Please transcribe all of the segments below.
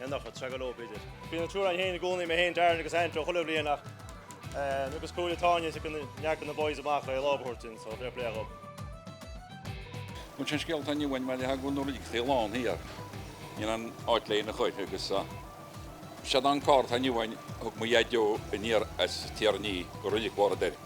An nochta, Tragá leo, b'fhéidir. Bhí na triúr ann féin i gcónaí, mé féin, Darren agus Andrew, chuile bhliain ach agus cúpla bliain anois ag tarraingt na boys amach é, lámh a thabhairt linn, so fair play dhóibh. Sin é an scéal atá inniu uainn mar gheall go raibh carr ag a lán thiar níl aon áit léi ina choill agus is é an carr atá inniu againn thug mo Dhaideo aniar as Tír an Fhia go Reilig Mhuire.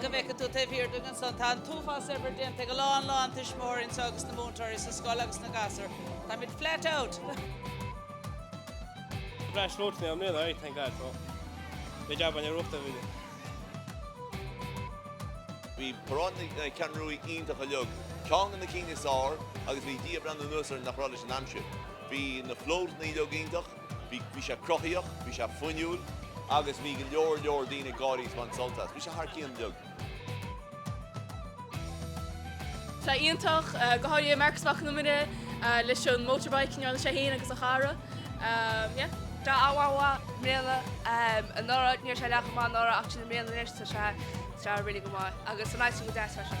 go bhfeice tú taobh thiar díom ansin. Tá an t-uafás oibre déanta ag a lán, lán tuismitheoirí anseo agus na múinteoirí sa scoil agus na gasúir. Táimid flat out! Breisluach na mbliana, aye, thank God for the job an Aireachta a bhí ann. Bhí paráid na Ceathrún Rua iontach uilig ceann de na cinn is fhearr agus bhí Dia ag breathnú anuas orainn nach raibh leis an aimsir. Bhí na flótanna uilig iontach. Bhí, bhí sé cruthaíoch, bhí sé fuinniúil agus bhí go leor leor daoine ag gáirí is baint sult as. Bhí sé thar cionn uilig. Tá iontach, go háirithe Marcus Mac an Iomaire leis an motorbike inniu, sé fhéin agus a chara. Yeah. Tá, a bhuachaill, i mbliana, anuraidh ní raibh sé leath chomh maith anuraidh ach sin i mbliana anois tá sé, tá sé really go maith agus san áit sin go deas freisin.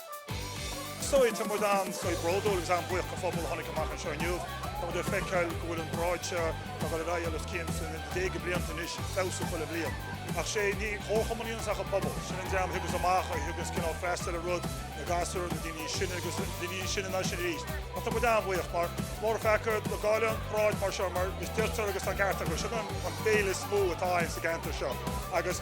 So, tá muid an-sásta, bródúil agus an-bhuíoch den phobal a tháinig amach anseo inniu. Tá muid ag feiceáil go bhfuil an pharáid seo ag dul ar aghaidh os cionn na déaga blianta anois, ag feabhsú chuile bhliain. Ach sé, ní hé an comharchumann é ach an pobal. Sin an dream a thaganns amach, a thaganns cineál ag freastal ar rud, na gasúir, na daoine níos sine agus na daoine níos sine ná sin arís. Ach tá muid an-bhuíoch mar is mór an feall dá gcaillfí an pharáid mar seo mar a deirtear agus tá an ceart acu, sin an fhéile is mó atá againn sa gceantar seo agus